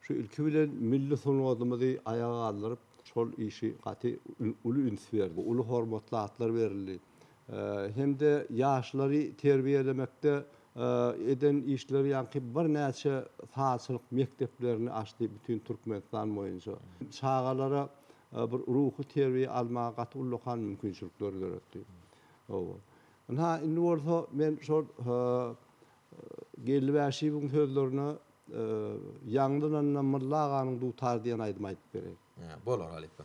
Şu ilki bilen milli sungatymyzy aýaga galdyryp, şol işi gaty uly üns berdi. Uly hormatly atlar berildi. Hem-de ýaşlary terbiýelemekde eden işleri ýaňky birnäçe sazçylyk mekdeplerini açdy bütin Türkmenistan boýunça. Çagalara bir ruhy terbiýe almaga gaty ullakan mümkinçilikleri döretdi. Ynha, indi bolsa men şol Geldi Bäşiýewiň sözlerine ýaňlananda Mylla aganyň Dutary diýen aýdymy aýdyp bereýin. Bolar halypa.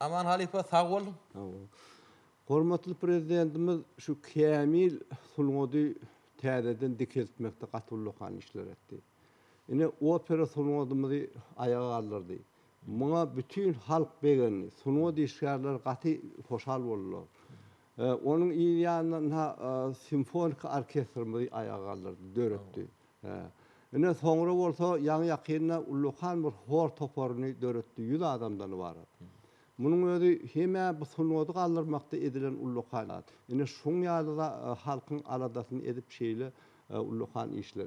Aman halypa sag bol. Sag bol. Hormatly Prezidentimiz şu kämil sungady täzeden dikeltmekde gaty ullakan işler etdi. Ine opera sungadymyzy aýaga galdyrdy. Muňa bütin halk begendi. Sungat işgärleri gaty hoşal boldular. Onuň yz ýanynda ynha simfoniki orkestrimizi aýaga galdyrdy, döretdi. Hä. Ine, soňra bolsa ýaňy-ýakynda ullakan bir hor toparyny döretdi, ýüz adamdan ybarat. Munuň özi hem-ä bu sungady galdyrmakda edilen ullakan zat. Ine, şuň ýaly halkyň aladasyny edip şeýle ullakan işler.